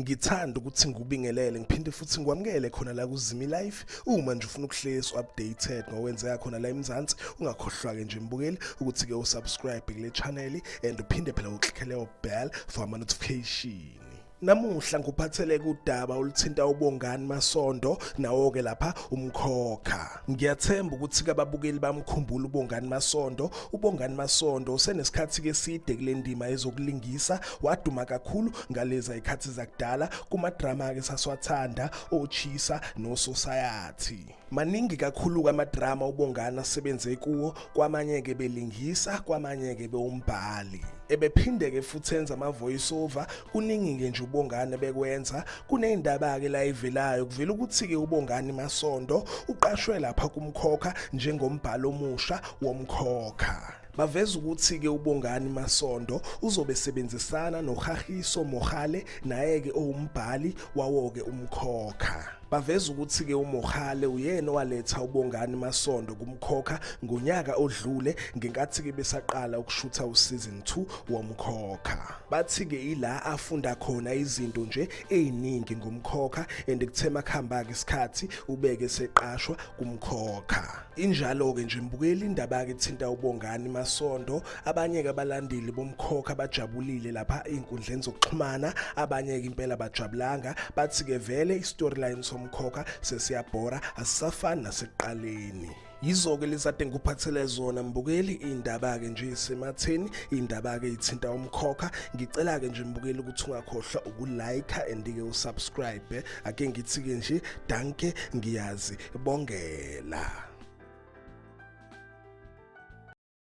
ngithanda ukuthi ngikubingelele ngiphinde futhi ngikwamukele khona la kuzimi life uma nje ufuna ukuhlezi updated ngokwenzeka khona la eMzansi ungakhohlwa ke nje mbukeli ukuthi ke usubscribe kule channel and uphinde phela uklickele ubell for ama notification Namuhla ngikuphathele kudaba oluthinta ubongani masondo nawo ke lapha umkhokha. Ngiyathemba ukuthi kababukeli bamkhumbula ubongani masondo. Ubongani masondo usenesikhathi ke side kule ndima ezokulingisa waduma kakhulu ngaleza ikhathi zakudala kuma drama ke saswathanda ochisa no society. Maningi kakhulu-ke amadrama uBongani asebenze kuwo, kwamanye-ke belingisa, kwamanye-ke bewumbhali. Ebephinde-ke futhi enza ama-voice over, kuningi-ke nje uBongani ebekwenza. Kuney'ndaba-ke la ivelayo, kuvela ukuthi-ke uBongani Masondo uqashwe lapha kumkhokha njengombhali omusha womkhokha. Baveza ukuthi-ke uBongani Masondo uzobe sebenzisana noHahiso Mohale naye-ke owumbhali wawo-ke umkhokha. Baveza ukuthi-ke uMohale uyena owaletha uBongani Masondo kumkhokha ngonyaka odlule ngenkathi-ke besaqala ukushutha uSeason 2 womkhokha. Bathi-ke ila afunda khona izinto nje eziningi ngomkhokha and kuthe makuhamba-ke isikhathi ubeke seqashwa kumkhokha. Injalo-ke nje mbukeli indaba kethinta uBongani Masondo abanye-ke abalandeli bomkhokha bajabulile lapha ey'nkundleni zokuxhumana abanye-ke impela bajabulanga bathi-ke vele i-storyline somkhokha sesiyabhora asisafani nasekuqaleni yizo-ke lezade ngikuphathele zona mbukeli iy'ndaba-ke nje isematheni iy'ndaba-ke ithinta umkhokha ngicela-ke nje mbukeli ukuthi ungakhohlwa ukulike and-ke usubscribe ake ngithi-ke nje danke ngiyazi bongela